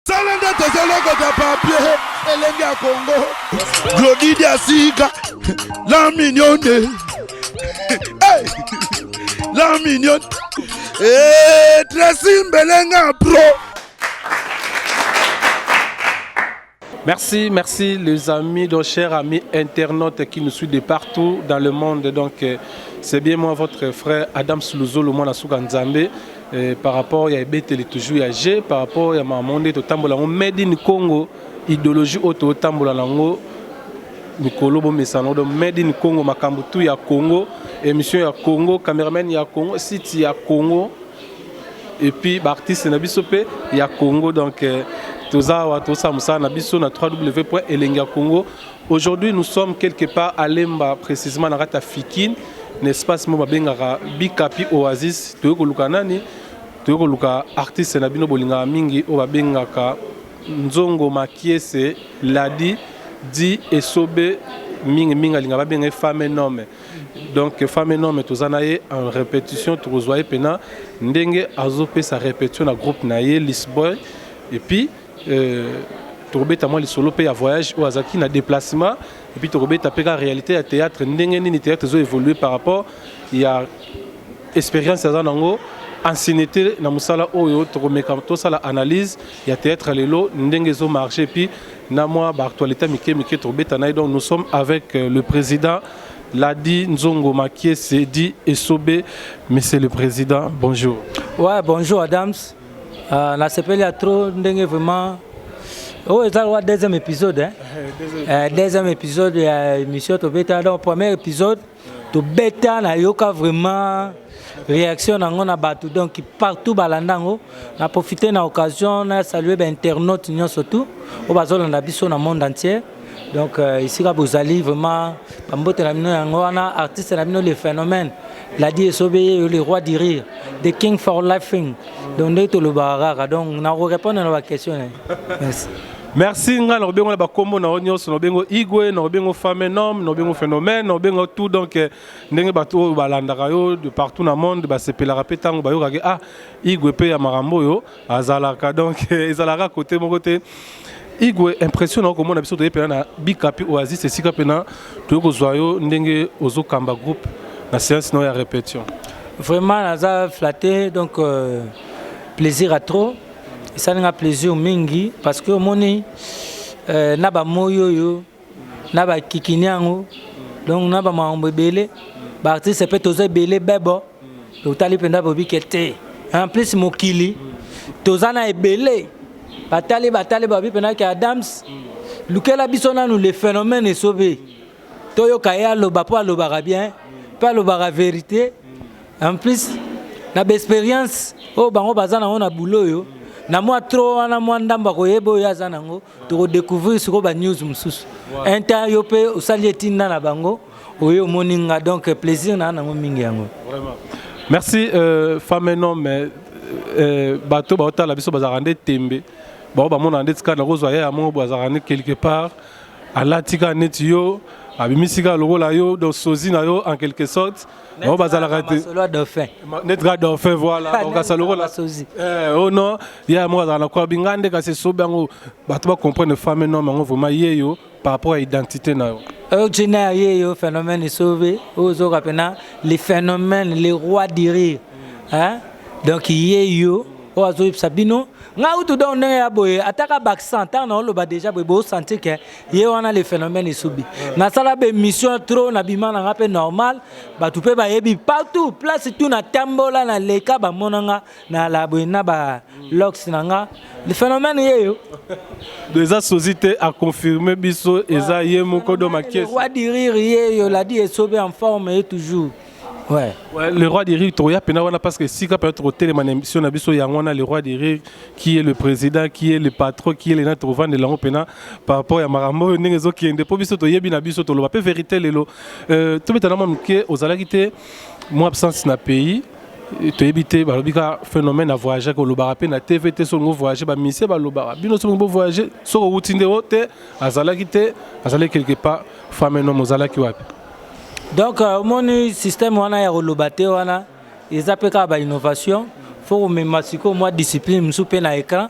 sala nde tozolokota papie elenge ya kongo glodidi ya sika la mignone la mignone eh, tresi mbelenga pro Merci, merci les amis, donc chers amis internautes qui nous suivent de partout dans le monde. Donc, euh, c'est bien moi, votre frère Adam Slouzolo, moi, Nzambe. Eh, par rapport ya ebeteli toujours ya jeu par rapport ya makambo nde totambola yango made in congo idéologie oyo totambola nango mikolo bomesana odo made in congo makambo tu ya congo émission ya congo cameraman ya congo site ya congo et puis baartiste na biso mpe ya congo donc eh, toza awa tosala mosala na biso na 3 w elengi ya congo Aujourd'hui nous sommes quelque part à Lemba precisement na kati ya Fikin na espace moko babengaka Bikapi Oasis toyei koluka nani toyei koluka artiste na bino bolingaka mingi oyo babengaka Nzongo Makiese Ladi di Esobe mingi mingi alinga babenga ye femme nome donc femme nome toza na ye en répétition tokozwa ye mpena ndenge azopesa répétition na groupe na ye lisboy et puis Tokobeta mwa lisolo pe ya voyage oyo azalaki na deplacement et puis tokobeta pe ka realite ya theatre ndenge nini theatre ezo evoluer par rapport ya experience aza nango anciennete na musala oyo tokomeka tosala analyse ya theatre ya lelo ndenge ezo marche et puis na mwa ba actualite ya mike mike tokobeta na ye donc nous sommes avec le president Ladi Nzongo Makiese dit Esobe monsieur le president bonjour. Ouais bonjour Adams. Ah, na sepeli ya trop ndenge vraiment oyo eza lowa deuxième épisode hein? euh, deuxième épisode ya émission tobeta donc premier épisode tobeta nayoka vraiment réaction na yango na bato donc partout balanda yango na profite na occasion na salue bainternaute nyonso tout oyo bazolanda biso na monde entier Donc euh, esika bozali vraiment bambote na bino yango wana artiste na bino le phénomène ladi esobe ye le roi du rire the king for laughing donc ndenge tolobaka kaka donc nakorépondre na baquestion na ye merci merci ngai nakobengo na bakombo na yo nyonso nakobengo igwe nakobengo femme nome nakobengo phénomène nakobengo tout donc eh, ndenge bato oyo balandaka yo de partout na monde basepelaka mpe ntango bayokaki ah igwe mpe ya makambo oyo azalaka donc ezalaka kote moko te igwe impression na okomona biso toye mpena na bikapi oasis esika mpena toye kozwa yo ndenge ozokamba groupe na séance na oyo ya répétition vraiment naza flatte donc euh, plaisir à trop esali nga plaisir mingi parce que omoni euh, na bamoi oyo na ba kikini yango donc na ba makambo ebele ba artiste mpe toza ebele bebo totali mpenza bobike te en plus mokili toza na ebele batali batali babi mpenza ke adams lukela biso nanu le phénomène esobe toyoka ye aloba mpo alobaka bien mpe alobaka verité en plus na baexpérience oyo bango baza nango na bulo oyo na mwa tro wana mwa ndambo akoyeba oyo aza nango toko découvrir siko ba news mususu un temps yo pe osali etinda na bango oye omoni nga donc plaisir na nango mingi yango vraiment merci euh, femme et homme euh, euh, bato baotala biso bazalaka nde tembe bango bamonaka nde tika nakozwa yaya moko boye azalaka nde quelque part alati kaka neti yo abimisi kaka lokola yo donc sozi na yo en quelque sorte bango bazalaka te neti kaka dauphin voilà bakokasa lokola o non ye yango azalaka na kwabi ngai nde kasi esobi yango bato bacomprendre femme nom yango vraiment ye yo par rapport ya identité na yo oyo ntina ya ye yo phénomène esobe oyo ozoka mpena le phénomène le roi du rire hein? donc ye yo oyo azoyebisa bino ngai utu donc ndenge ya boye ataka baaccent ntango naoloba déjà boye bosanti ke ye wana le phénomène esubi nasala bemission trop nabima nanga mpe normal bato mpe bayebi partout place tout natambola na leka bamona nga na laboye na ba lox na nga le phénomène ye yo do eza sozi te aconfirme biso eza ye moko do makiesi roi du rire ye yo ladi esobe en forme ye toujours Ouais. ouais. Le roi des rires, Toya Penawana, parce que si Kapel Trotel, mon émission, Nabiso Yangwana, le roi des rires, qui est le président, qui est le patron, qui est le Natrovan de l'Ango Pena, par rapport à Marambo, Nengezo, qui est de Pobiso, Toyebi, Nabiso, Tolo, peu vérité, Lelo. Euh, tout le monde, aux Alakité, moi, absence na pays, toyebi te balobi ka phénomène ya voyage kolobaka mpe na tv te soki ngo voyage bamisie balobaka bino soki bo voyage soki owuti nde o te azalaki te azalaki quelque part femme nom ozalaki wapi Donc euh, omoni système wana ya koloba te wana eza mpe kaka bainnovation fo komema sikoyo mwa discipline mosusu mpe na écran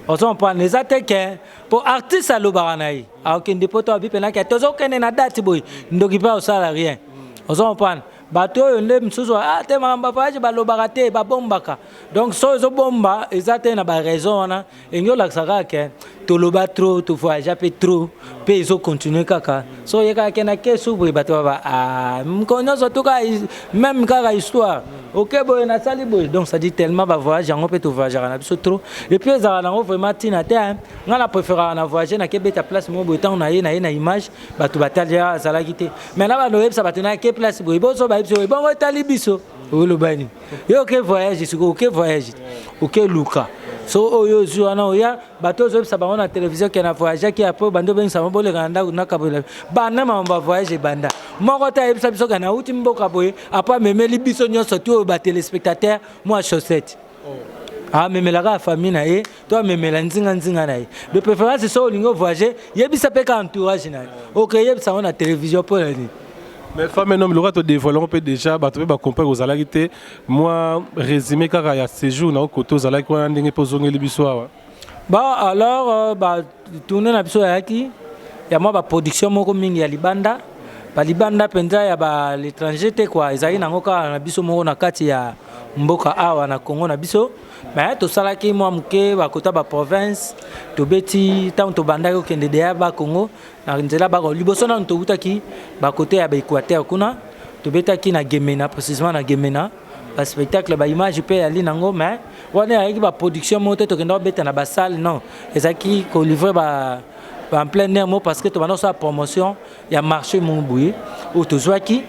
ozo comprendre eza te ke mpo artiste alobaka na ye akokende mpo to abi mpe nake tozokende na date boye ndoki mpe akosala rien ozo comprendre bato oyo nde mosusu ah te makambo bavoyage balobaka te babombaka donc so ezobomba eza te na baraison wana enge olakisa kaka ke toloba trop to voyagea mpe trop mpe ezo continue kaka so oye kaka ke na ke so boye bato baba ah, mokolo nyonso to kaka meme kaka histoire oke boye nasali boye donc ça dit tellement bavoyage yango mpe tovoyageaka na biso trop epuis ezalaka nango vraiment ntina te ngai na préféraka na voyage nake beta place moko boye ntango naye naye na image bato batali azalaki te mai na bando oyebisa bato nayake place boye boso bayebisa ebongo etali biso olobani yo oke voyage sikoyo oke voyage oke luka so oyo ozwi wana oya bato ozobisa bango na televizio ke na voyageaki apres obandi obengisama boleka na ndako nakabolela banda mambo ya voyage ebanda moko te ayebisa biso ke nauti mboka boye apres amemeli biso nyonso ti oyo batelespectateur mwa chaussette oh. amemela kaka famille na ye to amemela nzinga nzinga na ye de préférence soki olingi ovoyage yebisa mpe ka entourage na ye oke yebisa yango na télévision mpo na nini mais femme un homme lokola todevoile yango mpe déjà bato mpe bacomprendre ozalaki te mwa résumé kaka ya séjour na yo kote ozalaki wana ndenge mpe ozongeli biso awa ba alors euh, batourne na biso yayaki ya mwa baproduction moko mingi ya libanda balibanda mpenza ya balétranger te kua ezalaki nango kaka na biso moko na kati ya mboka awa na congo na biso me tosalaki mwa moke bakota baprovince tobeti ntango tobandaki kokende deya bakongo na nzela bako liboso nano towutaki bakote ya baequateur kuna tobetaki na gemena précisement na gemena baspectacle baimage mpe yali nango me wana eyaki baproduction moko te tokenda kobeta na basale non ezalaki kolivre ba en plein air mo parce que tobanda kosala promotion ya marché moko boye oyo tozwaki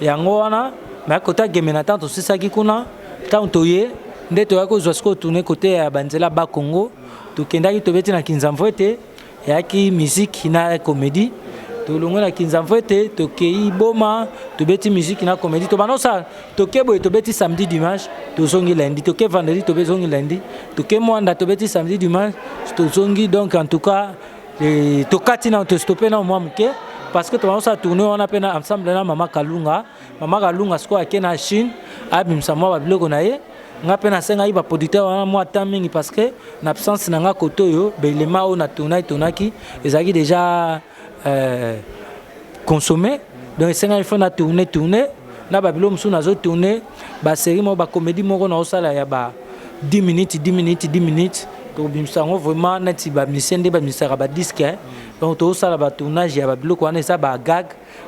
yango wana bayaki kota gembe na ntango tosisaki kuna ntango toye nde toyaki kozwa sikoyo tourne kote ya banzela ba congo tokendaki tobeti na kinzamvwete eyaki miziki na komedi tolongwe na kinzamvwete tokei boma tobeti miziki na komedi tobanda osala toke boye tobeti samedi dimanche tozongi lundi toke vendredi tobezongi lundi toke mwanda tobeti samedi dimanche tozongi donc en tout cas Et tokati na tostope na mwa moke parce que tobandosala tourne wana mpe na ensemble na mama kalunga mama kalunga sikoyo ake na chine abimisa mwa babiloko na ye nga mpe nasengaki baproducteur wana mwa temps mingi parce que na absence na nga kote oyo baelema oyo na tournaki tournaki ezalaki déjà euh, consommer donc esengaki fo na tourne tourne na babilo mosusu nazo tourne basérie moko bacomédie moko naosala ya ba 10 minutes 10 minutes 10 minutes tokobimisa yango vraiment neti bamisie nde bamisaka badiske eh. donc tozosala batournage ya babiloko wana eza bagag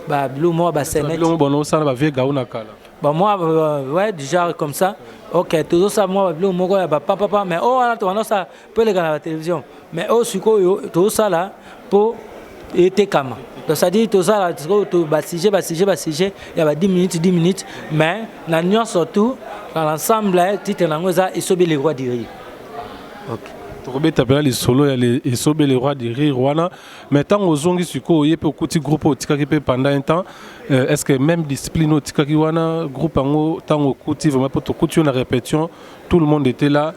babiloko moko baseneosala bavie gao na kala bamwa euh, ouais du genre comme ça ok tozosala mwa babiloko moko ya bapapapa mais oyo oh, wana tobanda osala mpo eleka na batelevision mais oyo sikoyo tozosala mpo etekama donc cestadire tozala sikoyo basujet basujet basujet ya ba 10 minutes 10 minutes mais na nyonso tout na l'ensemble titre na yango eza esobe le roi du rire okay. tokobeta mpena lisolo ya esobe le roi du rire wana mais ntango ozongi sikoyo ye mpe okuti groupe otikaki mpe pendant un temps euh, est ce que même discipline otikaki wana groupe yango ntango okuti vraiment mpo tokuti yo na répétition tout le monde était là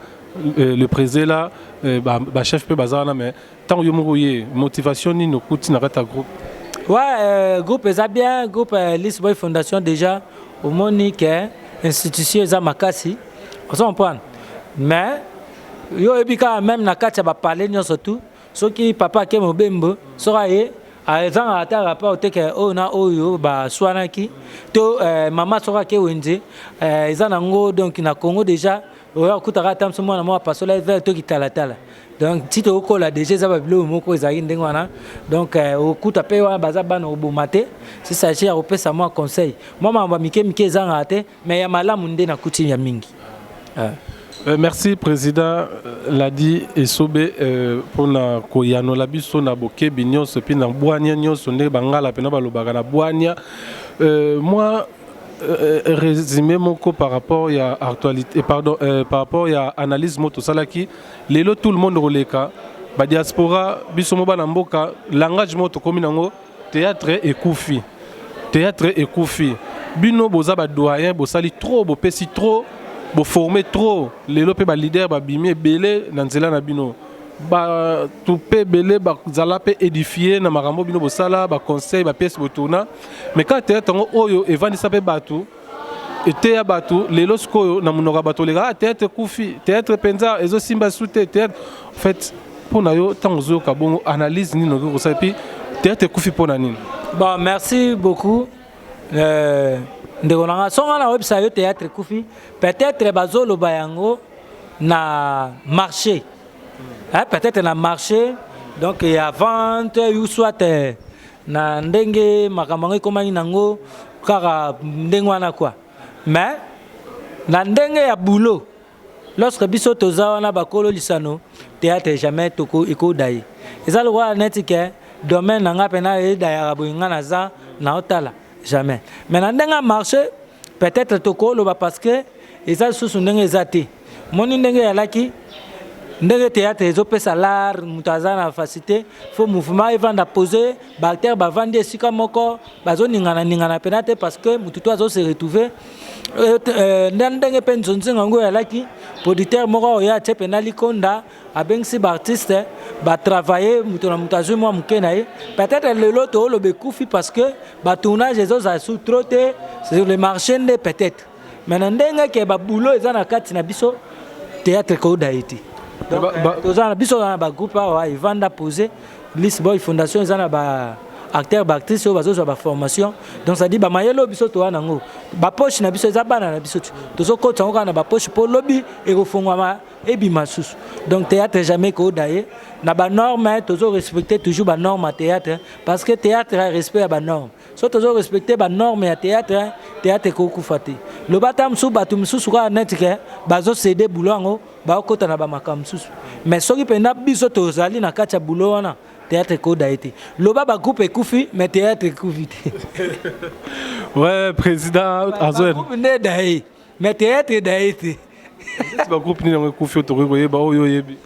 Euh, le président là euh, ba, ba chef pe baza wana mais tant yo moko ye motivation nini okuti na kata groupe ouais euh, groupe eza bien groupe euh, lisboy fondation déjà omoni ke institution eza makasi ozo comprendre mais yo oyebi kaka meme na kati ya bapale nyonso tu soki papa ake mobembo soki aye ezanga ata rapport te ke oyo oh, na oyo baswanaki to euh, mama soki ake wenze euh, eza nango donc na congo déjà oyo akutaka ata mso mwana moko apasola ye vere to kitalatala donc nti tokokola deja eza babiloko moko ezalaki ndenge wana donc euh, okuta mpe wana baza bana oboma te sisage ya kopesa mwa conseil mwa makambo ya mike mike ezangaka te mais ya malamu nde na coutume ya mingi euh. Euh, merci président euh, ladi esobe euh, mpona koyanola biso na bokebi nyonso mpe na bwania nyonso ndenge bangala mpena balobaka na bwania euh, mwa Resume moko par rapport ya actualite pardon par rapport ya analyse moko tosalaki lelo tout le monde koleka ba diaspora biso mo bana mboka langage moko tokomi nango theatre ekufi theatre ekufi bino boza ba doyen bosali trop bopesi trop bo former trop lelo pe ba leader babimi ebele na nzela na bino bato mpe ebele bazala mpe édifie na makambo bino bosala baconseil bapièce botourna mais kaka teyatre yango oyo evandisa mpe bato eteya bato lelo sikoyo na monoko ya bato oleka ah, teyatre ekufi teyatre mpenza ezosimba su te teyatre en fait mpo na yo ntango ozoyoka bongo analyse nini okoki kosala epi teyatre ekufi mpo na nini bon merci beaucoup Eh, ndeko na nga songa na webisa yo théâtre kufi peut-être bazoloba yango na marché hein, peut-être na marché donc ya vente ou soit eh, na ndenge makambo yango ekomaki nango kaka ndenge wana quoi mais na ndenge ya boulot lorsque biso toza wana bakolo lisano théâtre jamais toko ekodaye eza lokola neti ke domaine na nga pena edayaka boye nga naza naotala jamais mais na ndenge marche peut-être tokoloba parce que eza lisusu ndenge eza te moni ndenge eyalaki ndenge théâtre ezopesa l'art moto aza na facilité fo mouvement evanda pose baacteur bavandi esika moko bazoningana ningana mpena te parce que motu to azo se retrouve euh, euh, nda ndenge mpe nzonzinga yango eyalaki producteur moko oyo atie mpena likonda abengisi baartiste batravaille moto na moto azwi mwa moke na ye peut-être lelo tooloba ekufi parce que batournage ezozala su trop te sur le marché nde peut-être mais na ndenge ke ba boulot eza na kati na biso théâtre ko daye te toza na biso na ba groupe awa evanda pose liste boy fondation eza na ba acteur baactrice oyo bazozwa baformation donc cetadi bamayele oyo biso toya nango bapoche na biso eza bana na biso tozokotisa yango kaka na bapoche mpo lobi ekofongwama ebima susu donc théâtre jamais kooda ye na banorme tozorespecte toujours banorme ya théâtre parce que théâtre ya respect ya banorme so tozo respecte ba norme ya theatre theatre ekokufa te loba ata mosusu bato mosusu kaka neti ke bazo cede boulot yango bakokota na bamakambo mosusu mais soki mpenza biso tozali na kati ya boulot wana theatre ekoda ye te loba bagroupe ekufi mais theatre ekufi te ouais président azo nde da ye mais théâtre edaye te neti bagroupe nini yango ekufi oyo tokoki koyeba oyo oyebi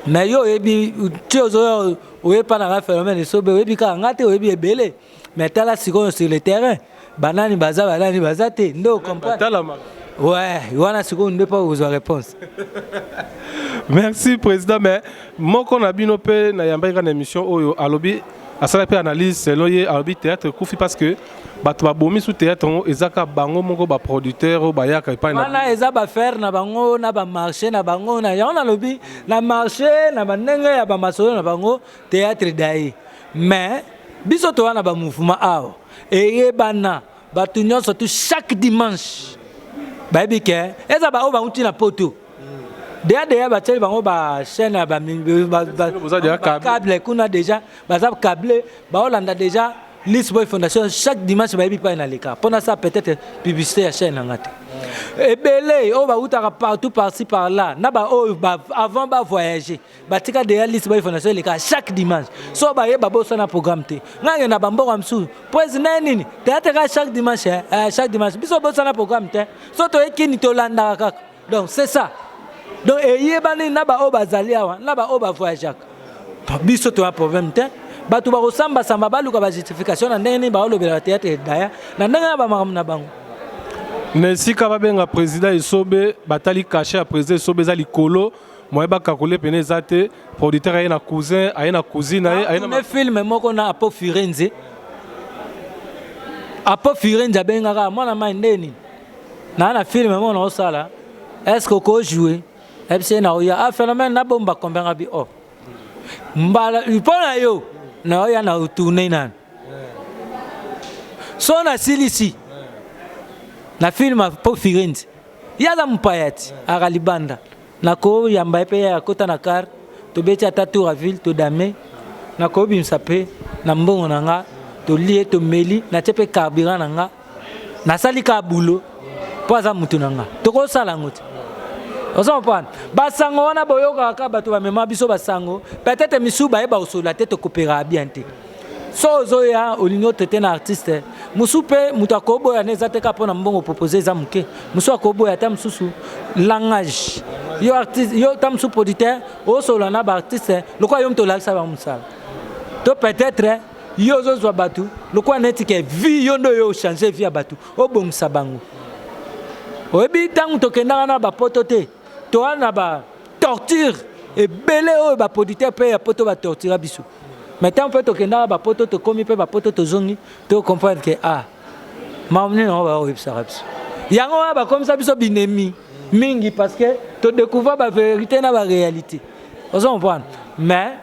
mais yo oyebi ti ozoya oyepa na nga phénomène esobe oyebi kaka nga te oyebi ebele mais tala sikoyo sur le terrain banani baza banani baza te nde ocomprentalama ouais wana sikoyo nde mpo okozwa réponse merci président mais moko na bino mpe nayambaki kaka na émission oyo alobi asala mpe analyse selon ye alobi théâtre ekufi parce que bato babomi su théâtre yango eza ka bango moko ba producteur oyo bayaka epai na wana eza bafaire na bango na bamarché na bango na yango nalobi na marché na bandenge ya bamasolo na bango théâtre dai mais biso toza na bamouvement awa eyebana bato nyonso tu chaque dimanche bayebi ke eza baoyo bauti na poto deya deya batieli bango bachaîne ya bacable kuna deja baza cable baolanda deja List Boy Fondation chaque dimanche bayebi pai na leka mpo nasala peut-être publicité ya chaîne na nga te ebele oyo bautaka partout parci par là na baoyo ba, avant bavoyage batika deya List Boy Fondation eleka chaque dimanche so baye babosana programme te nga ngenda bamboka mosusu mpo ezina ye nini teyate kaka chaque dimanche eh, chaque dimanche biso obosana programme te so toye kini tolandaka kaka donc c'est ça donc eyebani na baoyo bazali awa na baoyo bavoyageaka biso toya problème te bato bakosambasamba baluka bajustification na ndenge nini baolobela bateatre edaya na ndenge ya bamakambo na bango na esika babenga président esobe batali kashe ya président esobe eza likolo moye bakakole pene eza te producteur aye na cousin aye na cousine aye aye na filme moko na apo firenze apo firenze abengaka mwana mai ndeni na na film mo na osala est-ce que ko jouer ebise na oya ah phénomène na bomba combien abi oh mbala ipona yo na oya na tourner na so na silisi na film po firenze yaza mpayati akalibanda na ko yamba pe ya kota na car to beti ata tour à ville to dame na ko bimsa pe na mbongo na nga to lie to meli na tie pe carburant na nga nasali ka bulo mpo aza motu na nga tokosala yango te oza kopana basango wana boyokaka kaka bato bamema biso basango peut-être misusu baye baosola te tokoperaka bien te so ozoya olingi otraite na artiste mosusu mpe moto akoboya na eza te kaka mpo na mbongo propose eza moke mosusu akoboya ata mosusu langage yo artiste yo ta mosusu producteur osolola na baartiste lokola yo moto olakisa bango mosala to peut-être yo ozozwa bato lokola neti ke vie yo nde oyo ochange vie ya bato obongisa bango oyebi ntango tokendaka na bapoto te toa na ba torture ebele oyo baproducteur mpe ya poto batortura biso mai ntango mpe tokendaka bapoto tokomi mpe bapoto tozongi tocomprendre ke a ah, maomni nango baoyebisaka biso yango wana bakomisa biso binemi mingi parce que todécouvre baverité na baréalité ozo comprendre mais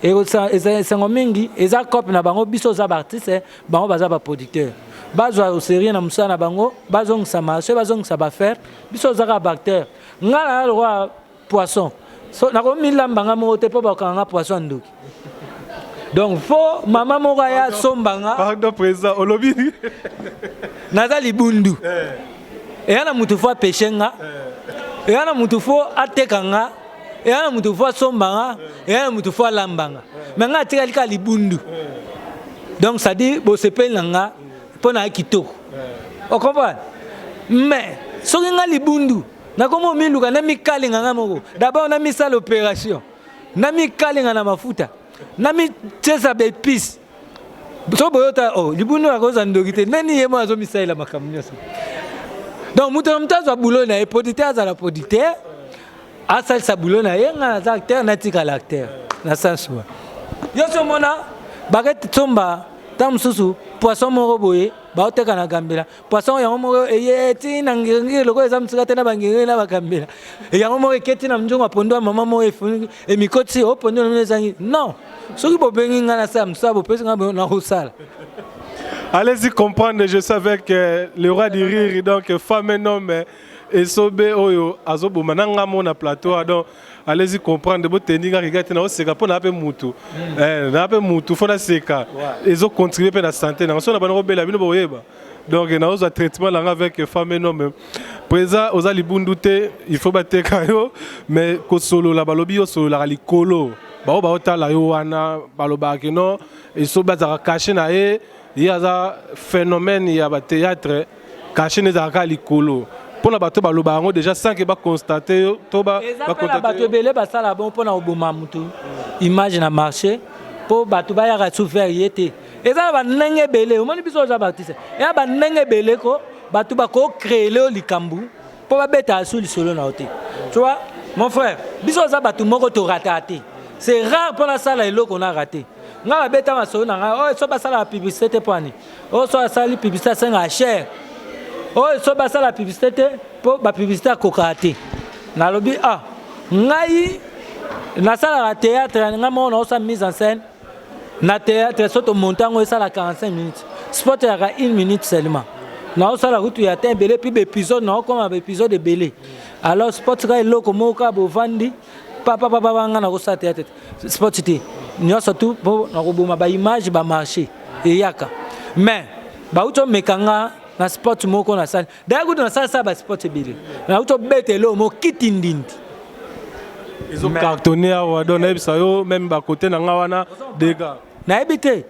esengo mingi eza cope na bango biso oza baartiste bango baza baproducteur bazwa oserieux na mosala na bango bazongisa marché bazongisa bafaire biso oza kaka baacteur ngai naa lokola poisson so, nakomilamba ngai moko te mpo bakanga ngai poisson ya ndoki donc fo mama moko aya asomba nga pardon président olobi naza libundu eh. eya na motu fo apeshe nga eh. eya na motu fo ateka nga eya na moto fo asomba nga eya na moto fo alamba nga me nga atikali kaka libundu donc cestadire bosepeli na nga mpo na kitoko ocomprendre mais soki nga libundu nakomi omiluka namikalinga nga moko dabord namisala opération namikalinga na mafuta namityesa baepice so boyota o oh, libundu akozwa ndoki te nani ye moko azomisalela makambo nyonso donc moto na moto azwa boulot na ye producteur azala producteur asalisa boulot na ye nga naza acteur natikala acteur na sens wa yo so omona bakete tsomba ntango mosusu poisson moko boye baoteka na gambela poisson yango moko eye ti na ngirngiri lokola eza mosika te na bangirngiri na bagambela yango moko eketi na mzongo ya pondo ya mama moko efuniki emikoti o oh, pondo na mino ezangi non soki bobengi ngai nasala mosala bopesi ngai nakosala Allez-y comprendre, je savais que le roi du rire, donc femme et homme, esobe oyo azoboma na nga mona plateau ah, donc allez-y comprendre botendi nga riga te naoseka mpo naa mpe mutu mm. eh, naa mpe mutu fo naseka ezocontribue mpe na sante nanga so na bana kobela bino boyeba donc naozwa traitement nanga avec femme no me présent oza libundu te il faut bateka yo mais kosolola balobi yo osololaka likolo baoyo baotala yo wana balobaka kino esobe azalaka kashe na ye ye aza phénomène ya ba théâtre cachet nde ezalaka kaka likolo mpo na bato baloba yango déjà sans que baconstate yo to bakontate bato ebele basala bongo mpo na koboma moto image na marché mpo bato bayaka sous vert ye te eza na bandenge ebele omoni biso oza baartiste eya bandenge ebele ko bato bakocreele yo likambo mpo babetaka su lisolo na yo te tu vois mon frère biso oza bato moko torataka te c'est rare mpo nasala eloko na rate nga na beta masolo na ngai oyo so basalaka publicité te poani oyo so asali publicité asengaka cher oyo so basala publicité te mpo bapublicité akokaka te nalobi ah ngai nasalaka théâtre ngai moko naosala mise en scène na théâtre so tomonte yango esala 45 minutes sport eyaka une minute seulement naosala kutu ya te ebele mpe baepisode naokoma baepisode ebele alors sport kaka eloko moko kaka bovandi papa papa ba nga nakosala teyate te sport te nyonso tu mpo nakoboma baimage bamarché eyaka mais bauti omeka nga na sport moko nasali daya kutu nasalasala basport ebele nauti obeta eloo mo kiti ndindi ezocartonne awa don nayebisa yo meme bakote na nga wana dega nayebi te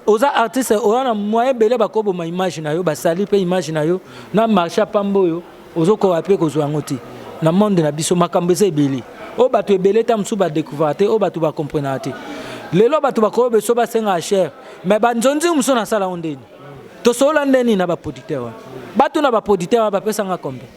oza artiste oza na moyen ebele bakoboma image na yo basali mpe image na yo na marché apamba oyo ozokoka mpe kozwa yango te na monde na biso makambo eza ebele oyo bato ebele ntango mosusu badécouvrir te oyo bato bakomprenaka te lelo bato bakoyo beso basengaka chere me banzonzingi mosusu nasala yango ndeni tosolola ndeni na baproducteur wana batuna baproducteur wana bapesanga combien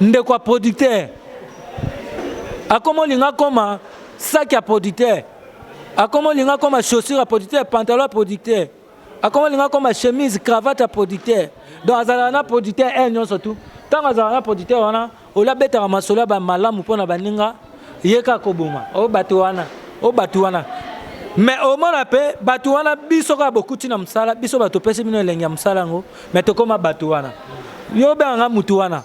ndeko ya producteur akoma olinga akoma saki ya producteur akoma olinga akoma chaussure ya producteur pantalon ya producteur akoma olinga akoma chemise cravate ya producteur donc azalaka na producteur heure nyonso tu ntango azalaka na producteur wana ola abetaka masolo ya bamalamu mpo na baninga ye kaka koboma o oh, bato wana o oh, bato wana me omona mpe bato wana biso kaka bokuti na mosala biso bato topesi bino elengi ya mosala yango me tokóma bato wana yo obengaka nga motu wana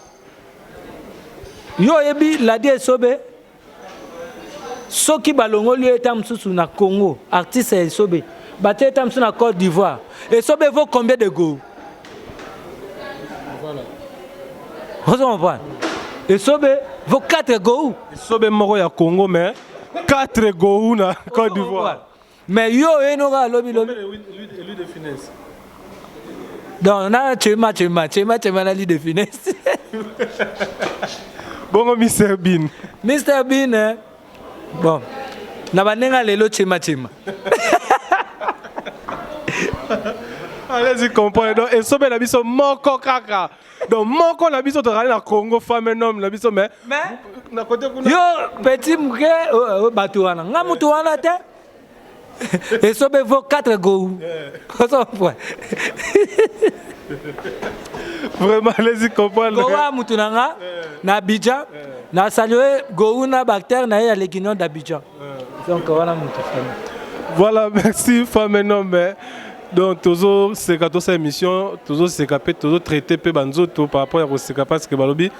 yo oyebi ladi esobe soki balongoli yo eta mosusu na congo artiste ya esobe batie eta mosusu na côte d'ivoire esobe vaut combien de gou ozo comprendre esobe vaut 4 gou esobe moko ya congo mais 4 gou na côte d'ivoire mais yo oyeno kaka lobi lobi donc na chema chema chema chema na lide finesse bongo mr bin mr bin eh? Bon, na banenga lelo chema chema. Allez-y comprendre. Donc esobe na biso moko kaka. Donc moko na biso tozali na Congo femme et homme na biso mais Mais na côté kuna yo petit muke euh, euh, bato wana nga moto wana te esobe vaut 4 gou vraiment alezi comprendre gowa mutu na nga na abidjan na salue gou na bactère na ye ya leginion d'abidjan donc wana mutu voilà merci femme nombe donc tozoseka tosala émission tozoseka mpe tozotraite mpe banzoto par rapport ya koseka parce que balobi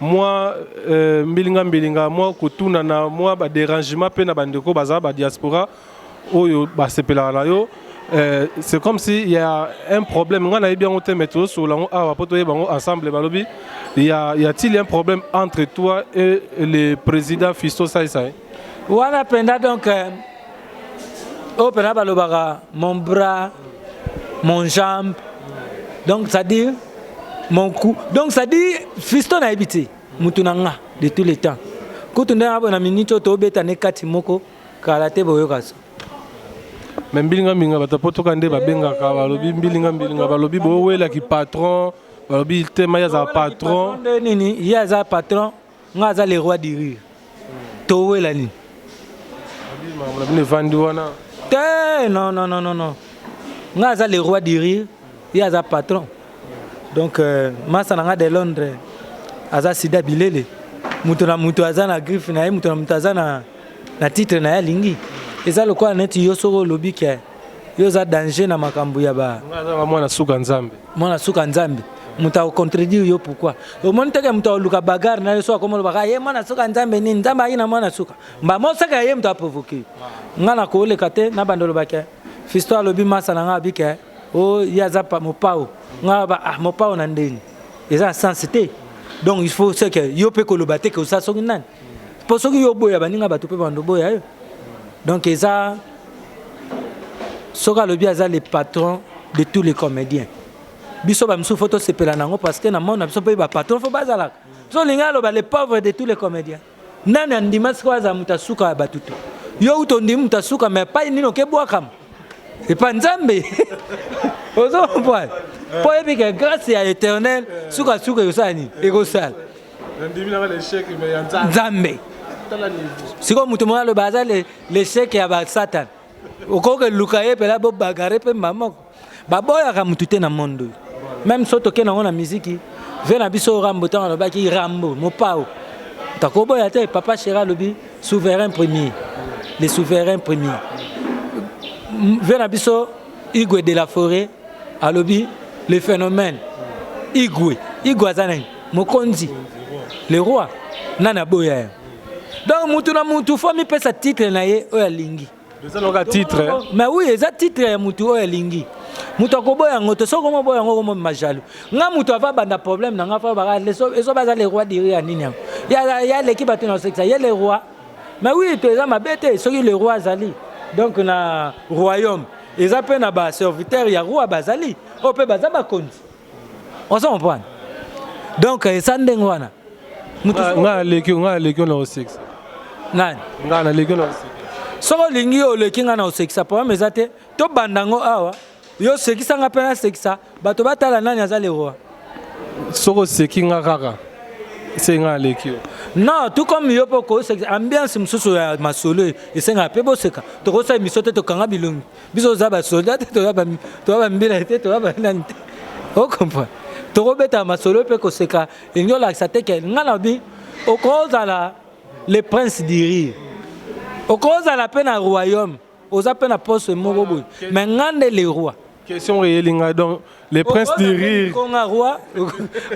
mwa euh, mbilinga mbilinga mwa kotunana mwa baderangement mpe na bandeko baza badiaspora oyo basepelaka na yo euh, c'est comme si ya un problème ngai nayebi yango te mais tozosolola yango awa mpo toyeba yango ensemble balobi ya, ya t-il un problème entre toi et le président fisto saisai wana penda donc euh, oyo oh, penda balobaka mon bras mon jambe donc ça dit mon cou donc ça dit fisto nayebi te motu na nga de tous les temps kutu nde nabona minute oyo tobeta ne kati moko kala te boyoka so me mbilinga mbilinga bato potoka nde babengaka balobi mbilinga mbilinga balobi bowelaki patron balobi te mai aza patron nini ye aza patron Nga aza le roi du rire. Towela nini? Mabina bino evandi wana. Te non non non non. Nga aza le roi du rire, ye aza patron. Donc euh, masa na nga de Londres aza sida bilele. Moto na moto aza na griffe na ye, moto na moto aza na na titre na ye alingi. Eza lokola neti yo soko olobi ke yo oza danger na makambo ya ba mwana suka nzambe mwana suka nzambe moto akocontredire yo pourkui omoni teke moto aoluka bagare na yo so akomolobaka ah, ye mwana suka nzambe nini nzambe ayi na mwana suka mbamba osaka ye moto aprovoke ngai nakoleka te na bando olobake fisto alobi masa na ngai abike o oh, ye aza mopao ngai aba ah mopao na ndeni eza na sense te donc il faut seke yo mpe koloba te ke osa soki nani mpo soki yo oboya baninga bato mpe bando oboya yo donc eza soki alobi aza le patron de tous les comédiens biso bamisusu fo tosepela na yango parce que na mona biso mpe bapatron fo bazalaka so olingi aloba le pauvre de tous les comédiens nani andima sikoyo azala moto ya suka ya bato te yo uta ondimi moto ya suka ma epai nini okebwakama epai nzambe ozo comprendre mpo oyebi ke grâce ya éternel sukasuka ekosala nini ekosala nzambe sikoyo moto moko aloba aza lesheke ya basatan okoki eluka ye mpela bobagare mpe mba moko baboyaka motu te na monde oyo meme so toke nango na miziki ve na biso rambo ntango alobaki rambo mopao takoboya te papa shera alobi souverain premier le souverain premier ve na biso igwe de la forêt alobi le phénomène igwe igwe aza nani Mokonzi, le roi, nani aboya ye? Donc mutu na mutu faut amipesa titre na ye oyo alingi. Eza loka titre. Mais oui, eza titre ya mutu oyo alingi. Mutu akoboya yango te, soki omoboya yango okomoma jaloux. Nga mutu ava banda problème na nga fa baka ezo baza le roi diri ya nini yango. Ya ya leki bato na osekisa, ye le roi. Mais oui, to eza mabe te soki le roi azali. Donc na royaume eza pe na ba serviteurs ya roi bazali, oyo pe baza bakonzi. ozo comprendre donc eza ndenge wana nga aleki nga aleki na osekisa nani nga na leki na osekisa soki olingi oleki nga na osekisa problème eza te tobanda yango awa yo osekisa nga mpe nasekisa bato batala nani aza leroa soki oseki nga kaka se nga aleki yo non tout comme yo mpe okosekisa ambiance mosusu ya masolo esengaka mpe boseka tokosala emission te tokanga bilongi biso toza basoda te toza bambila te toza banani te okomprendre tokobetaka masolo mpe koseka elingi olakisa te ke ngai nabi okozala le prince du rire okozala mpe na royaume oza mpe na poste moko boye me ngai nde le roi question eyeli ngai donc le prince du rire konga roi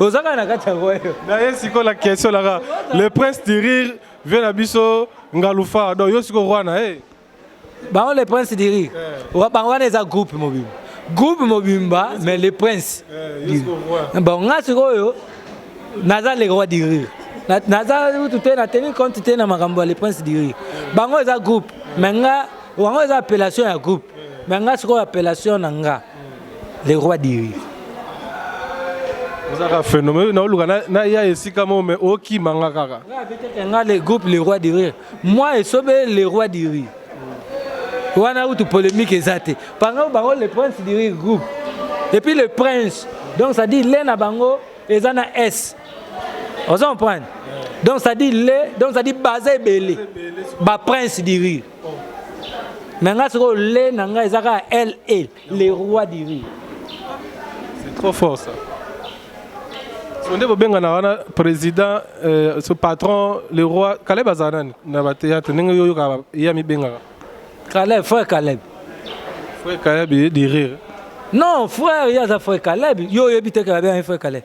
oza kaka na kati ya royaume naye sikoyo la question laka le prince du rire vie na biso ngalufa donc yo sikoyo roi na ye bango le prince du rire eh. bango wana eza groupe mobimba groupe mobimba mais le prince eh, bon nga sikoyo naza le roi du rire naza utu te na teni compte te na makambo ya le prince du rire eh. bango eza groupe mais nga wango eza appellation ya groupe mais nga sikoyo appellation na nga le roi du rire ozaka phénomène naoluka na ya esika mo mais okima nga kaka nga le groupe le roi du rire Moi esobe le roi du riz. Wana utu polemique eza te. Pango bango le prince du riz groupe. Et puis le prince. Donc ça dit le na bango eza na S. Vous comprenez Donc ça dit le, donc ça dit basé belé. Ba prince du riz. Mais nga soko le na nga eza ka L L. Le roi du rire. C'est trop fort ça. So nde bobenganaka wana président euh, ce patron le roi Caleb azala nani na ba théâtre ndenge yo oyokaka ye amibengaka Caleb, frère Caleb. frère Caleb ye du rire. Non, frère, il y a un frère Caleb. Yo, il y a un frère Caleb.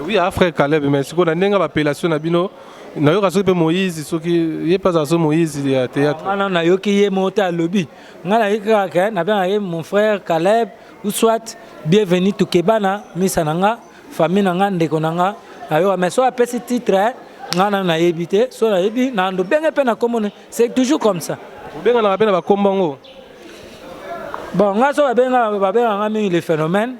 Oui, ah, frère Caleb, mais sikoyo na ndenge bapelation na bino nayoka soki mpe moïse soki ye mpe azala soki moïse ya théâtre wana nayoki ye moko te alobi ngai nayoki kaka nabengaka ye mon frère caleb ou soit bienvenu tokebana misa na nga famille na nga ndeko na nga nayoka mais soki apesi titre ngai nano nayebi te soki nayebi nando benge mpe na kombo c'est toujours comme ça obenganaka mpe na bakombo yango bon ngai so babengaka ngai mingi le phénomène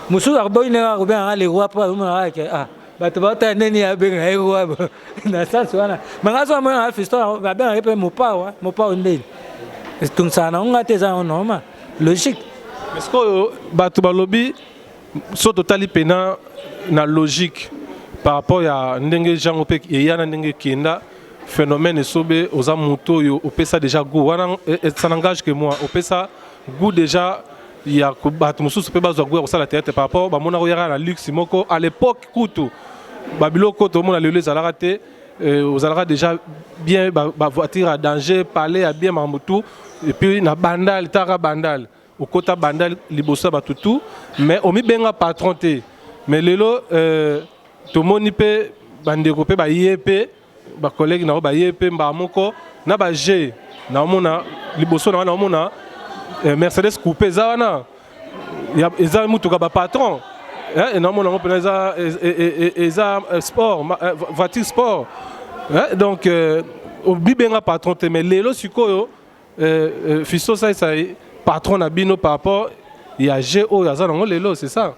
mosusu akoboyi ndenge akobenga ngai le roi mpo azomonaka eke ah bato baotala nde nini abenga ye roi na sens wana ma ngai so amonaka fisto babengaka ye mpe mopao mopao ndeni etungisaka nango ngai te eza yango normal logique sikoyo bato balobi Soki totali mpena na logique par rapport ya ndenge jango mpe eya na ndenge ekenda phénomène esobe oza moto oyo opesa déjà goût wana eh, eh, ça n'engage que moi opesa goût déjà ya bato mosusu mpe bazwa goût ya kosala théâtre par rapport bamona koyaka na luxe moko à l'époque kutu babiloko tomona lelo ezalaka te euh, ozalaka déjà bien bavoiture ba ya danger palais ya bien makambo tout epuis na bandal taka bandal Okota banda liboso ya bato tout mais omibenga patron te mais lelo euh, tomoni mpe bandeko mpe baye mpe bacollègue na yo baye mpe mbaa moko na baje naomona liboso na wana naomona euh, mercedes coupe eza wana eza motuka bapatron eh, naomona yango mpenza eza, e, e, e, eza euh, sport euh, voiture sport eh, donc euh, obibenga patron te mais lelo sikoyo Euh, euh, Fisto salisa patron na bino par rapport ya jeu oyo aza nango lelo c'est ça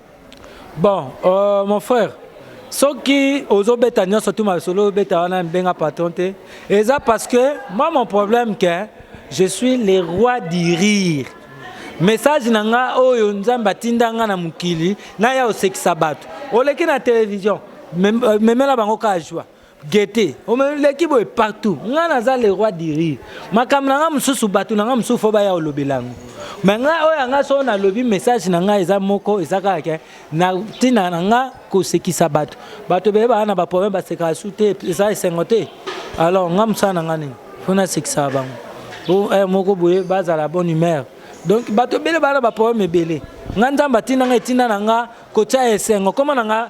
bon euh, mon frère soki ozobeta nyonso tu masolo obeta wana mbenga patron te eza parce que moi mon problème que je suis le roi du rire message na nga oyo nzambe atinda nga na mokili naya osekisa bato oleki na télévision euh, memela bango kaka joie Gete, omeleki boye partout. Nga naza le roi du rire. Makambo na nga mosusu bato na nga mosusu fo baya olobela yango. Mais nga oyo ya nga soo nalobi message na nga eza moko eza kaka ke na ntina na nga kosekisa bato. Bato ebele baya na baproblème basekaka su te eza esengo te. Alors nga mosala na nga nini? Fo nasekisaka bango. Bo heure moko boye bazala bonne humeur. Donc bato ebele baya na baproblème ebele. Nga Nzambe atinda nga etinda na nga kotia esengo. Koma na nga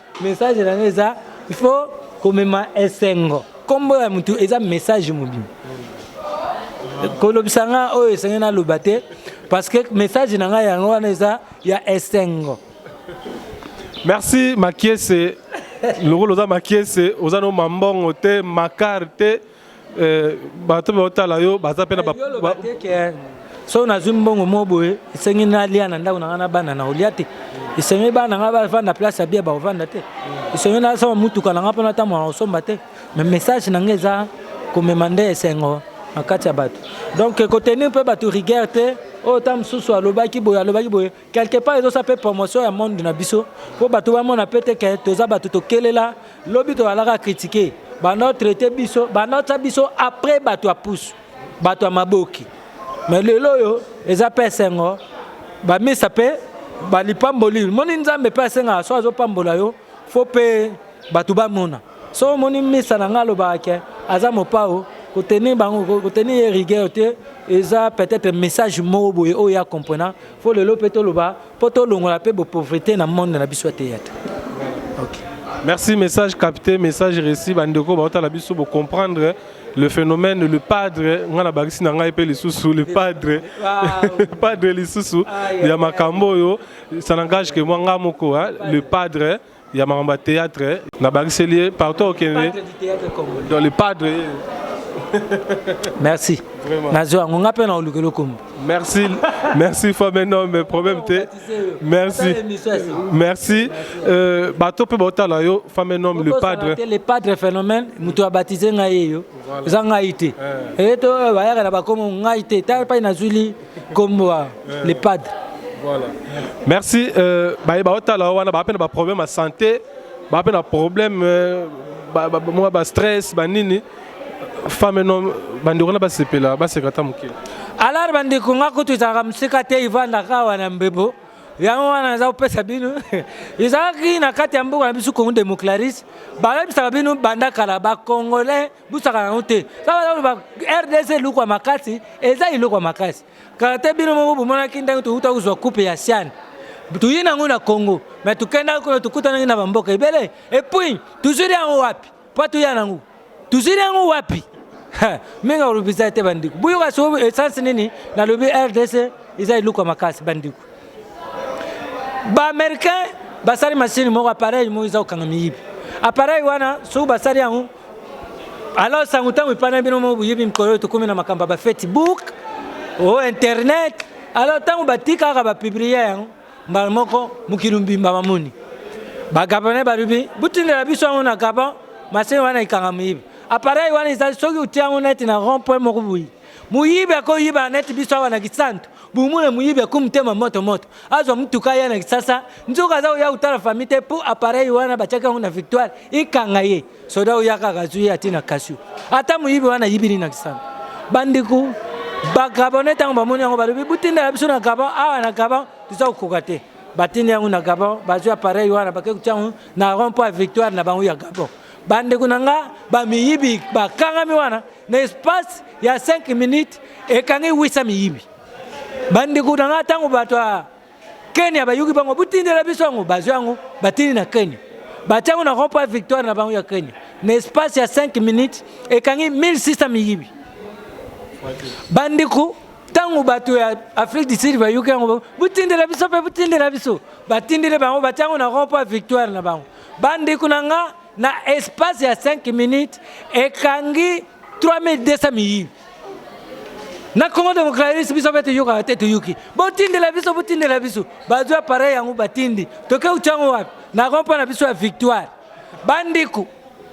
Message na nga eza il faut komema esengo. Kombo ya mutu eza message mobimba. Kolobisa nga oyo esenge naloba te parce que message na nga yango wana eza ya esengo. Merci Makiese. Lokolo oza Makiese, oza no mambongo te, makar te. Eh, bato baotala yo baza mpe na eh, soki nazwi mbongo moko boye esengi nalia na ndako na ngai na bana na olia te esengi bana ngai bavanda place ya bia bakovanda te esengi nasomba motuka na ngai mpo natambola na kosomba te mais message na ngai eza komema nde esengo na kati ya bato donc kotenir mpe bato rigueur te oyo oh, ta mosusu alobaki boye alobaki boye quelque part ezosa mpe promotion ya monde na biso mpo bato bamona mpe te ke toza bato tokelela lobi toalaka kritike banda otraite biso banda otya biso après bato ya pusu bato ya maboki me lelo oyo eza mpe esengo bamisa mpe balipamboli moni nzambe mpe asengaka so azopambola yo fo mpe bato bamona so omoni misa na ngai alobaka ke aza mopao kotenir bango kotenir ye rigueur te eza peut-être message moko boye oyo ya comprena fo lelo mpe toloba mpo tolongola mpe bopauvrete na monde na biso ya teyatre okay. merci message capté message réussi bandeko baotala biso bocomprendre le phénomène le padre ngai nabakisi na ngai mpe lisusu le padre padre lisusu ya makambo oyo ça n'engage que moi nga moko hein, le padre ya makambo ya théâtre nabakiseli ye partout okende dans le padre merci nazwi yango nga mpe naoluka elokombo merci merci fois maintenant mais problème te merci merci euh, bato mpe baotala yo femme un homme le padre le padre phénomène moto abatize ngai ye yo eza ngai te eye eh, to eh, bayaka na bakomo ngai te ta epai nazwili Kombo ya le padre. Voilà. Merci euh ba ba otala wana ba pena ba problème à santé, ba pena problème euh, ba ba, ba, ba stress, ba nini femme no bandeko na basepela baseka ata mokili alar bandeko nga kutu ezalaka mosika te ivandaka awa na mbebo yango wana naza kopesa bino ezalaki na kati ya mboka na biso congo democlaris bayebisaka bino banda kala bacongolais busaka yango te saka rdc eloko ya makasi eza eloko ya makasi kala te bino moko bomonaki ndenge touta kozwa coupe ya siane toye nango na congo mai tokendaki kuna tokutanaki na bamboka ebele epuis tozwili yango wapi mpo toya nango tozwili yango wapi mingi akolobisa te bandeko boyoka so esansi nini nalobi rdc eza eloko ya makasi bandeko baaméricain basali masini moko apareil moko eza kokanga miyibi apareil wana soki basali yango Alors sango tango epana bino mo boyebi mikolo oyo tokomi na makambo ya ba Facebook o oh, internet alors tango batikaka bapiblie yango mbala moko mokili mbimba bamoni bagabonais balobi botindela biso yango na gabon masini wana ekanga moyibi apareil wana ezali soki otia yango neti na rond point moko boye Muyibi ako yiba neti biso awa na Kisantu. Bumuna muyibi ako mutema moto moto. Azwa mutuka ya na Kisasa. Nzoka aza oya utala famille te po appareil wana batiaki yango na victoire ikanga ye. Soda oya kaka azwi ye atina kasio. Ata muyibi wana yibini na Kisantu. Bandiku bagabone tango bamoni yango balobi butindela biso na Gabon awa na Gabon tuza kokoka te. Batindi yango na Gabon bazwi appareil wana bakekutia yango na rond point victoire na bango ya Gabon. Bandeko na nga ba miyibi bakangami wana na espace ya 5 minutes ekangi 800 miyibi. Bandeko na nga tango bato ya Kenya bayuki bango botindela biso yango bazwi yango batindi na Kenya batia yango na rond point victoire na bango ya Kenya na espace ya 5 minutes ekangi 1600 miyibi. Bandeko ntango bato ya afrique du sud bayoki yango botindela biso mpe botindela biso batindeli bango batya yango na rond point victoire na bango Bandeko na nga na espace ya 5 minutes ekangi 3200 miyibi na Congo démocratique biso mpe toyokaka te toyoki botindela biso botindela biso bazwi appareil yango batindi toke utya yango wapi na rond point na biso ya victoire bandeko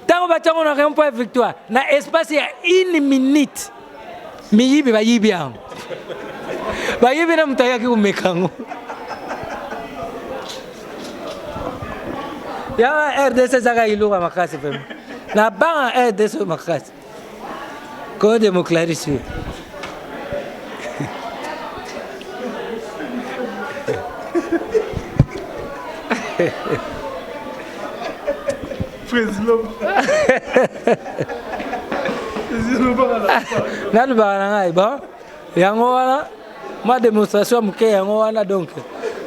ntango batya yango na rond point ya victoire na espace ya une minute miyibi bayibi yango bayibi na moto ayaki komeka yango ya rdc ezaka iluka makasi pema na banga rdc oyo makasi koyo democlarisi oyo Hehehe nalobaka na ngai bon yango wana mwa démonstration ya moke yango wana donc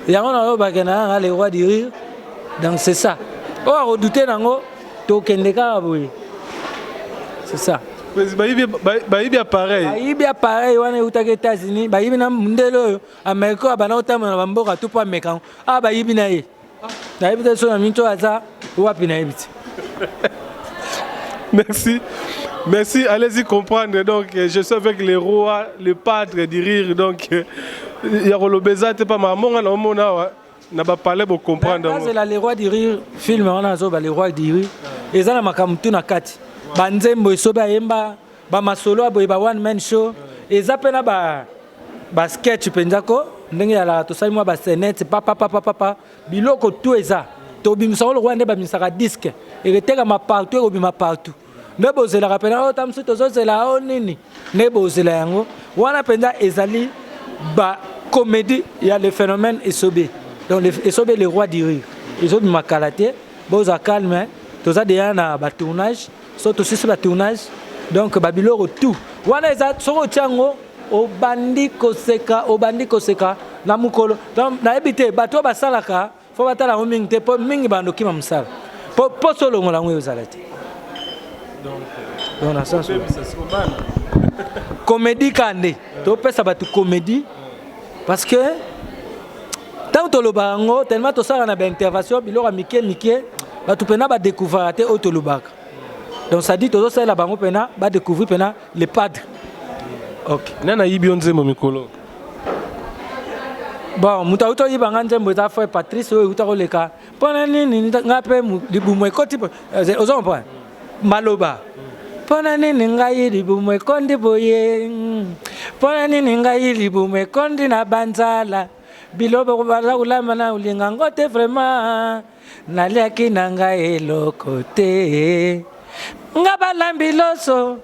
yango nalobake na yanga le roi du rire donc c'est ça oyo akodute nango tokende kaka boye c'est ça bayibi appareil bayibi appareil wana eutaki états-unis bayibi na mondele oyo amerika oyo abanda kotambola na bamboka to mpo ameka yango awa ah, bayibi na ye nayebi te sona minto aza wapi nayebi te merci merci allez-y comprendre donc je suis avec le roi le padre du rire donc ya koloba eza te pama amonga na omona awa na bapale bocomprendre azela le roi du rire film wana azoba le roi du rire eza na makambo tu na kati banzembo esobe ayemba ba masolo ya boye ba one man show eza mpe na ba, ba sketch mpenza ko ndenge yalaka tosali mwa basenete papapapapapa biloko tu eza tobimisa ngo lokola nde babimisaka diske eketekama partout ekobima partout nde bozelaka mpenza ota oh, mosusu tozozela o oh, nini nde bozela yango wana mpenza ezali bacomédie ya le phénomène esobe donc esobe le roi du rire ezobima kala te bozwa calme toza deya na batournage so tosisi ba tournage donc ba biloko tout wana eza soki otya yango obandi koseka obandi koseka na mokolo donc nayebi te bato oyo basalaka fo batala yango mingi te mpo mingi bando kima mosala mpo mposo olongola yango ezala te komedi kande topesa bato komedi parce que ntango tolobaka yango tellement tosala na baintervention biloko ya mike mike bato mpena badécouvraka te oyo tolobaka donc sadi tozosalela bango mpena badécouvrir mpena le padre ok nani ayibi yo nzembo mikolo bon moto auti oyiba ngai nzembo eza frère patrice oyo euta koleka mpo na nini ngai mpe libumu ekoti eh, ozo comprendre maloba mpo na nini ngai libumu ekondi boye mpo na nini ngai libumu ekondi na banzala biloba baza kolamba na olinga ngo te vraiment naliaki na ngai eloko te nga balambi loso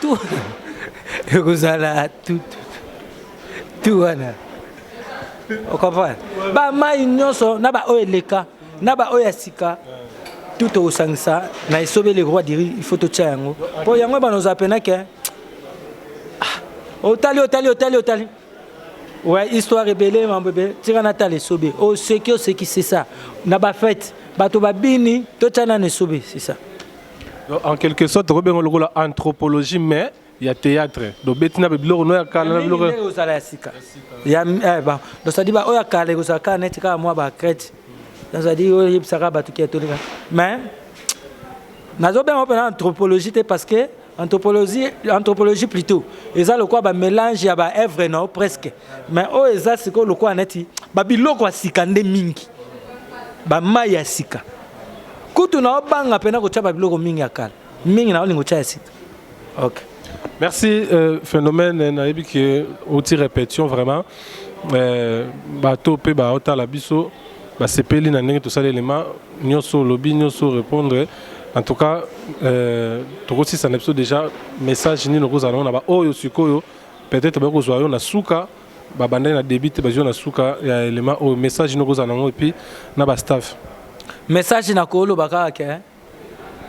tu ekozala tu tu wana okomprendre bamai nyonso na baoyo eleka na baoyo ya sika tu tokosangisa na esobeli roi diri il faut totya yango mpo yango ebana ozala pena ke ah, otali otali otali otali ouais histoire ebele mambo ebele tika natala esobe oseki oseki c'est ça na bafete bato babini totya nano esobe c'est ça Donc, en quelque sorte, tokoki benga lokola anthropologie, mais il y a théâtre. Donc, betina be biloko no ya kala na biloko. Ndenge ozala ya sika. Ya eh ba. Donc ça dit ba oya kala ko saka net ka moi ba crête. Donc ça dit oye bisaka ba tuki atolika. Mais nazo benga pe anthropologie te parce que anthropologie anthropologie plutôt eza lokola ba mélange ya ba œuvre no presque. Mais o eza siko lokola neti ba biloko ya sika nde mingi. Ba mai ya sika. kutu na obanga pena kotia ba biloko mingi ya kala mingi na olingo tia ya sika ok merci euh, phénomène nayebi ke outi répétition vraiment euh, bato mpe baotala biso basepeli na ndenge tosali elema nyonso olobi nyonso répondre en tout cas euh, tokosisa na biso déjà message nini okozala nango na baoyo sikoyo peut-être bakozwa yo na suka Ba bandaki na debut te ba jouer na suka ya element oyo message noko ozala nango epuis na ba staff. Message na ko loba kaka ke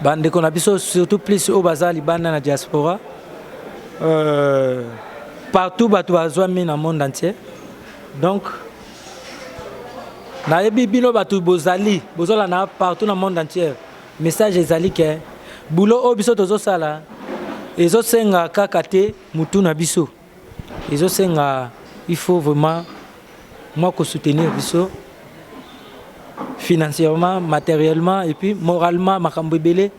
ba ndeko na biso surtout plus oyo baza libanda na diaspora euh, partout batu bazwami na monde entier donc nayebi bino batu bozali bozola na partout na monde entier message ezali ke boulot oyo biso tozosala ezosenga kaka te mutu na biso Ezo senga il faut vraiment mwa ko soutenir biso financièrement, materiellement et puis moralement makambo ebele.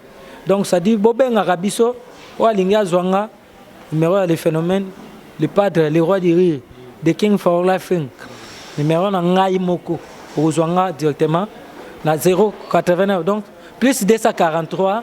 Donc ça dit bobengaka biso oyo alingi azwa nga numéro ya le phénomène le padre le roi du rire the king for laughing numéro na ngai moko okozwa nga directement na 089 donc plus 243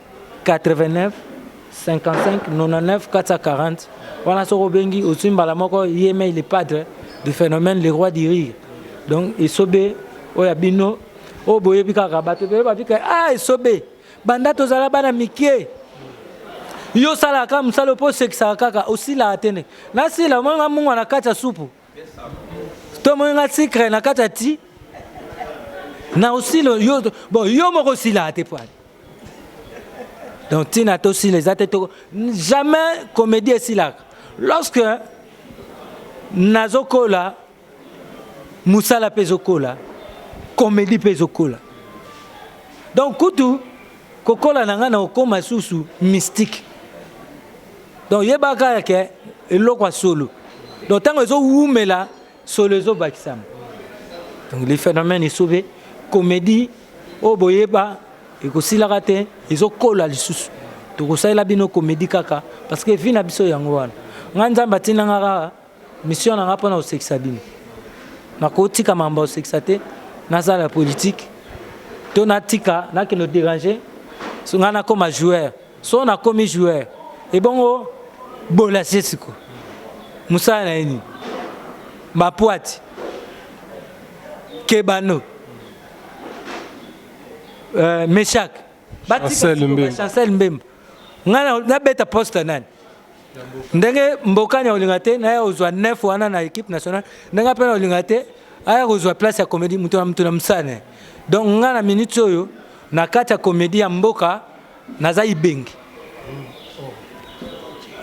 89 55 99 440 wana soki obengi ozwi mbala moko yemei le padre du phénomène le roi du rire donc esobe oyo ya bino oyo boyebi kaka bato ebele babika a ah, esobe banda tozala bana mike yo osalaka mosala mpo osekisaka kaka osilaka te nde nasila omonga mungwa na kati ya supu To moni nga secret na kata ti na osilo yo bon yo moko sila te pwale. Donc tina to sila eza te to jamais comédie esilaka. Lorsque nazokola musala pe zokola comédie pe zokola. Donc kutu kokola na nga na okoma susu mystique. donc yeba kaka ke eloko ya solo donc ntango ezowumela solo ezobakisama donc le phénomène esobe comédie oyo boyeba ekosilaka te ezokola lisusu tokosalela bino comédie kaka parce que vie na biso yango wana ngai nzambe atinda nga kaka Mission na nga pona kosekisa bino. Nakotika mambo ya kosekisa te, nasala politique to natika nakende koderange so ngai nakoma joueur so nakomi joueur ebongo bolasie siko mosala na ye nini bapwati kebano euh, meshak batika chancel mbemba nga na beta poste nani ndenge mbokani akolinga te naya kozwa 9 wana na équipe nationale ndenge mpe nakolinga te aya kozwa place ya comédie moto na moto na mosane donc nga na minute oyo na kati ya comédie ya mboka naza ibengi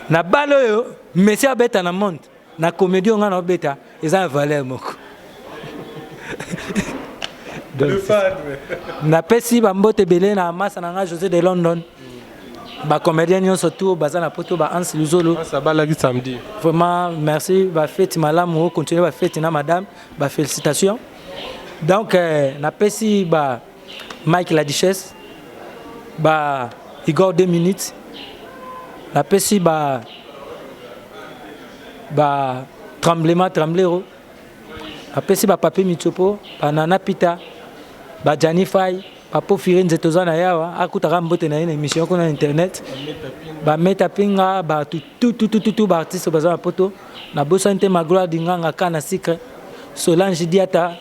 na bale oyo messi abeta na monde Na comedie oyo nga na obeta eza ya valeur moko. Na pesi ba mbote belé na masa na nga José de London. Ba comedien nyonso tout baza na poto ba Hans Luzolo. Masa ba laki samedi. Vraiment merci ba fête malamu continuer ba fête na madame ba félicitations. Donc euh, na pesi ba Mike la Duchesse ba Igor 2 minutes napesi ba ba tremblement tremblero napesi ba papier mitsopo ba nana pita ba Gianni Fay ba pofire nze toza na yawa akutaka mbote na ye na émission kuna na internet ba meta pinga ba tout tout tout tout tout ba artistes baza na poto na bosani te magloire dinganga kana sucre Solange Diata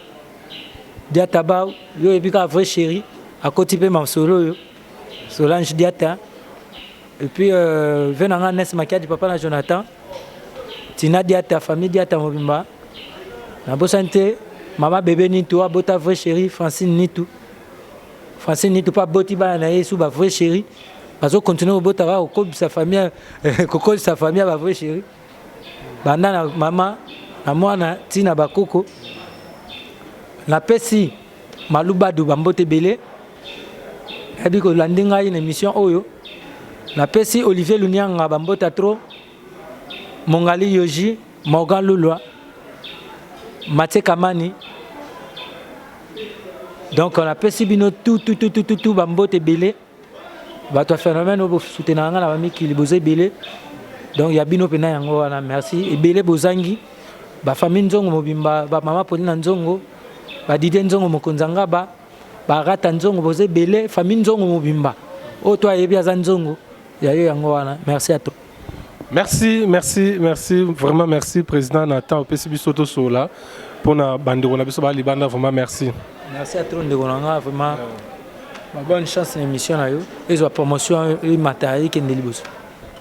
Diata ba yo yebi ka vrai chéri akoti pe masolo yo Solange Diata et puis euh, ve na nga Nes Makiadi papa na Jonathan Tina Diata famille Diata mobimba na bosani te mama bebe Nitu abota vrai chéri Francine Nitu Francine Nitu pa boti bana na ye sous ba vrai chéri bazo continuer kobota kaka kokobisa famille kokolisa famille ya ba vrai chéri banda na mama na mwana ti na bakoko napesi malubadu bambote ebele nayebi kolandi ngai na émission oyo napesi olivier lunianga bambota tro mongali yoji morgan lulwa matie kamani donc napesi bino tututututu bambote ebele Bato ya phénomène oyo bosoutenaka ngai na bamikili boza ebele donc ya bino mpena yango wana merci ebele bozangi bafamille nzongo mobimba bamama poli na nzongo badidie nzongo mokonzi ya ngaba barata nzongo boza ebele famille nzongo mobimba oyo to ayebi aza nzongo ya yo yango wana merci ato Merci, merci, merci, vraiment merci président Nathan opesi biso to sola pona bandeko na biso ba libanda vraiment merci. Merci à trop ndeko na nga vraiment. Ba bonne chance na émission na yo. Ezwa promotion et matériel kende liboso.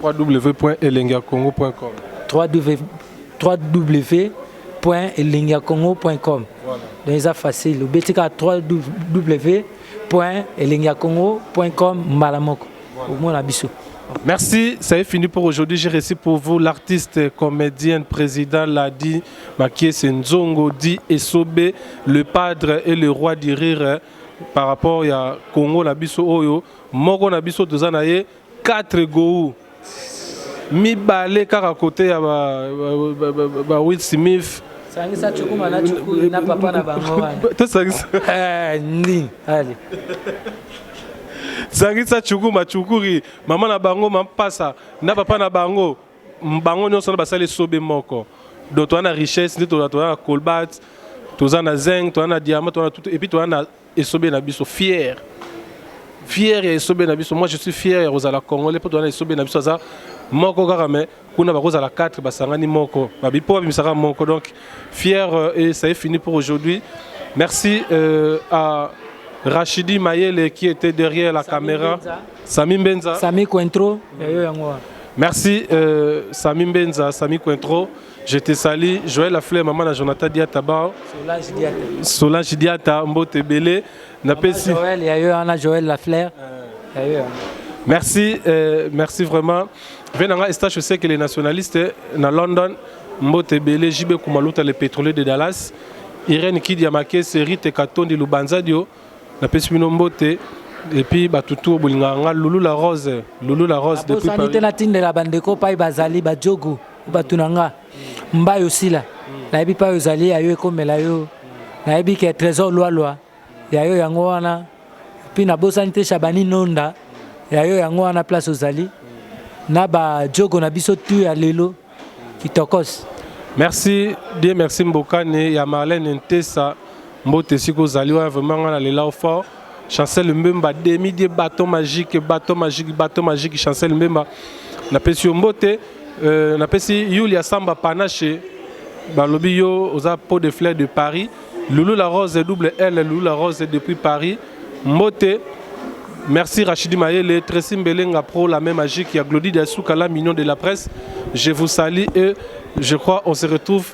www.elengiakongo.com www.elengiakongo.com Voilà. Donc eza facile. Obetika www.elengiakongo.com mbala moko. omona biso Merci, ça est fini pour aujourd'hui. J'ai reçu pour vous l'artiste, comédienne, président Ladi Makiese Nzongo, dit Esobe, le padre et le roi du rire hein, par rapport à Congo Nabiso Oyo, Moko Nabiso Tozanaye, 4 Goou. mibale kaka kote ya ba Will Smith sangisa chukuma na chukui na papa na bango wana tosangisa eh, nini allez zangisa chuku machukuri mama na bango mampasa na papa na bango bango nyonso na basali esobe moko donc toza na richesse nde toza na colbat toza na zeng toza na diamant toza na tout epuis toza na esobe na biso fier fier ya esobe na biso moi je suis fier ya kozala congolais mpo toza na esobe na biso aza moko kaka me kuna bakozala 4 basangani moko babi mpo babimisaka moko donc fier euh, et ça est fini pour aujourd'hui merci euh, à Rachidi Mayele qui était derrière la Sami caméra Benza. Sami Mbenza Sami Cointreau ya yo yango wana. Merci euh, Sami Mbenza, Sami Cointreau. Je te salue. Joël Lafleur, maman à Jonathan Diataba, Solange Diata. Solange Diata, Mbote Belé. napesi Joël ya yo wana Joël la fleur ya yo wana merci euh, merci vraiment ve na nga estache oseke le nationaliste na london mbote ebele jb kumaluta le pétrolier de dallas irene kidi ya makese rite katondi lubanzadio napesi bino mbote epuis bato tour bolingaka nga lulu la rose lulu la rose depuis abosani te Paris. natindela bandeko pai bazali bajogu bato na nga Mbayo Sila, nayebi pa ozali ya yo ekomela yo. Nayebi ke Tresor Lualua ya yo yango wana. Puis nabosani te Shabani Nonda ya yo yango wana place ozali. Na ba jogo na biso tout ya lelo. Kitokos. Merci, Dieu merci Mbokani ya Marlène Ntesa. Mbote siko ozali wana vraiment nga na lela yo fort. Chancel Mbemba demi die baton magique baton magique baton magique Chancel Mbemba napesi yo mbote euh, napesi Yulia Samba Panache balobi yo oza pot de fleur de Paris Loulou la Rose double L Loulou la Rose depuis Paris mbote Merci Rachidi Mayele, Tracy Mbelenga Pro, la même magique, il y a Glody Diasuka, la mignon de la presse. Je vous salue et je crois on se retrouve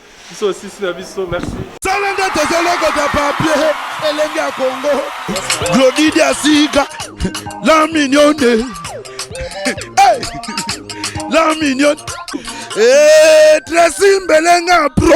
Biso osisi na biso, merci. Sala nde tozolokota papier elenge ya Congo. Glodi Diasika, la mignonne. Hey! La mignonne. Eh, Tracy Mbelenga pro.